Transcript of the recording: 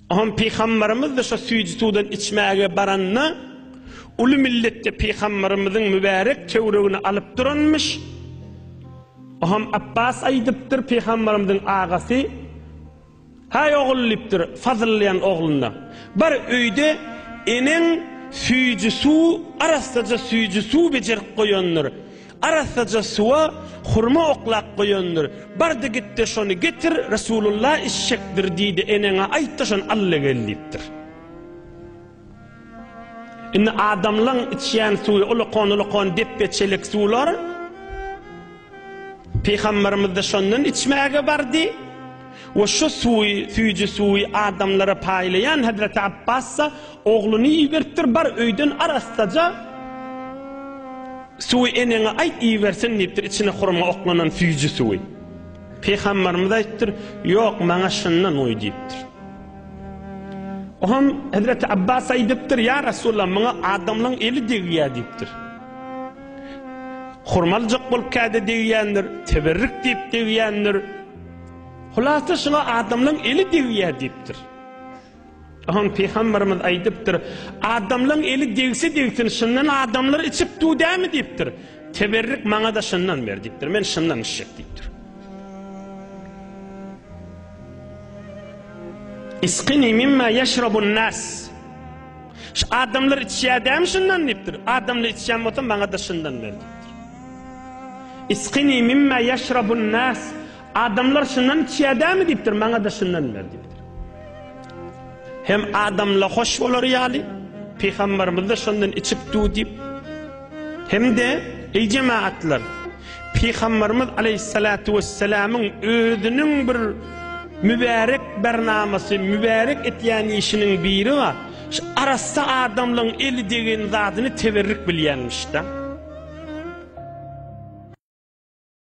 Hom pygambarymyz da şo süýji suwdan içmäge baranda uly milletde pygambarymyzyň mübärek töwregini alyp duranmyş. Hom Abbas aýdypdyr pygambarymyzyň agasy Haý ogul diýipdir fazylýan ogluna. Bir öýde eneň süýji suw arassaja süýji suw bejerip goýandyr. Arassaja suwa hurma oklap goýandyr. Bardy git-de şony getir, Resulullah içjekdir diýdi, eneňe aýt-da şony al-da gel diýipdir. Indi adamlaň içýän suwy ulakon-ulakon depbe çelek suwlar. Pygamberimiz-de şondan içmäge bardy. We şu suwy, süýji suwy, adamlara paýlaýan Hezreti Abbassa ogluny iberipdir, Bar, öýden arassaja suwy eneňe aýt, ibersin diýipdir, içine hurma oklanan süýji suwy. Pygamberimiz aýtdyr, Ýok, maňa şundan goý diýipdir. Oňam Hezreti Abbas aýdypdyr, Ýa Resulullah, maňa adamlaryň eli degýär diýipdir. Hurmaljak bolup käde degýändir, teberrik diýip degýändir. Hulasa şuňa adamlaň eli degýär diýipdir. Oňa pygamberimiz aýdypdyr, adamlaň eli degse degsin, şundan adamlar içip dudämi diýipdir. Teberrik maňa-da şundan ber diýipdir. Men şundan içjek diýipdir. Isqini mimma yashrabun nas. Şu adamlar içýär dämi şundan diýipdir. Adamlar içýän bolsa maňa-da şundan ber diýipdir. Isqini mimma ýeşrabun nas, Adamlar şundan içýädämi diýipdir, maňa-da şundan ber diýipdir. Hem adamla hoş bolar ýaly, pygamberimiz-de şondan içipdi diýip. Hem-de, eý jemagatlar, pygamberimiz aleýhissalatu wessalamyň özüniň bir mübärek bernamasy, mübärek etýän işiniň biri bar. Şu arassa adamlaň eli degen zadyny teberrik bilýänmiş da.